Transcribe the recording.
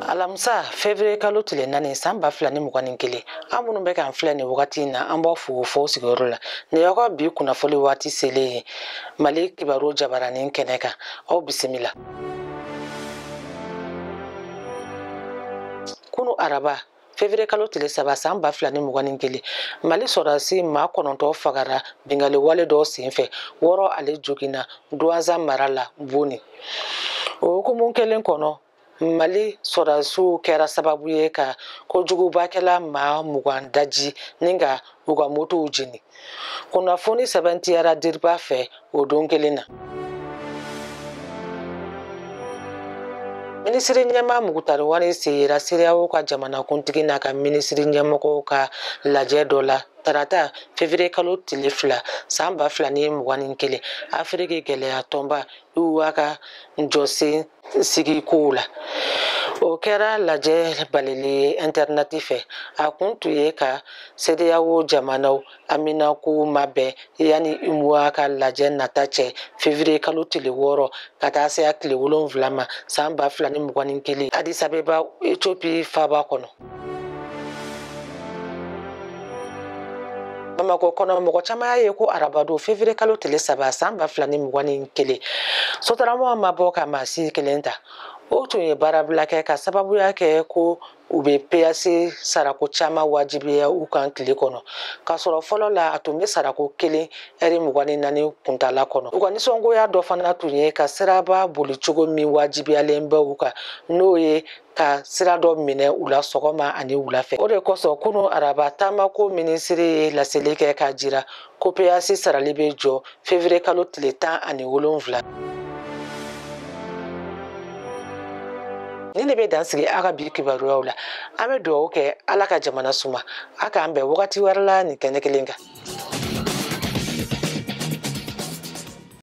alamisa fevriye kalo tile naani san ba fila ni mugan ni kelen aw minnu bɛ k'an filɛ nin wagati in na an b'aw fo fo aw sigiyɔrɔ la nin y'aw ka bi kunnafoli waati selen ye mali kibaru jabaranin kɛnɛ kan aw bisimila kunu araba fevrier kalo tile saba san ba fila ni mugan ni kelen mali sɔrɔdasi maa kɔnɔntɔ fagara bingali wale dɔ senfɛ wɔɔrɔ wɛrɛ joginna duwanza mara la boni o hukumu kelen kɔnɔ mali sɔrɔdasiw kɛra sababu ye ka kojugubakɛla maa mugan daji ni ka u ka motow jeni kunnafoni sɛbɛntiyara diripa fɛ o don kelen na minisiri ɲɛmaa mukutari wani sen yera sedeyawo ka jamanakuntigi n'a ka minisiri ɲɛmɔgɔw ka lajɛ dɔ la tarata fevriye kalo tile fila san ba fila ni mugan ni kelen afiriki kelenya tɔnba uwa ka jɔsen sigi kow la o kɛra lajɛ balalen ye intɛrinɛti fɛ a kun tun ye ka sedeyawo jamanaw haminako mabɛn yanni uwa ka lajɛ nata cɛ fevriye kalo tile wɔɔrɔ ka taa se a tile wolonwula ma san ba fila ni mugan ni kelen adisabeba etiopi faaba kɔnɔ bamakɔ kɔnɔ mɔgɔ caman y'a ye ko arabadon fevrier kalo tile saba san ba fila ni mugan ni kelen sotarama ma bɔ ka maa si kelen ta o tun ye baarabila kɛ k'a sababuya kɛ ko u bɛ peyasi sarako caman wajibiya u kan tile kɔnɔ k'a sɔrɔ fɔlɔ la a tun bɛ sarako kelen ɛri mugan ni naani kuntala kɔnɔ u ka nisɔngoya dɔ fana tun ye ka siraba bolicogo min wajibiyalen bɛ u kan n'o ye ka sira dɔ minɛ u la sɔgɔma ani wula fɛ o de kosɔn kunu araba taamako minisiri ye laseli kɛ k'a jira ko peyasi sarali bɛ jɔ fevriye kalo tile tan ani wolonwula nin de bɛ dan sigi an ka bi kibaruyaw la an bɛ dugawu kɛ ala ka jamana suma a k'an bɛn wagati wɛrɛ la nin kɛnɛ kelen kan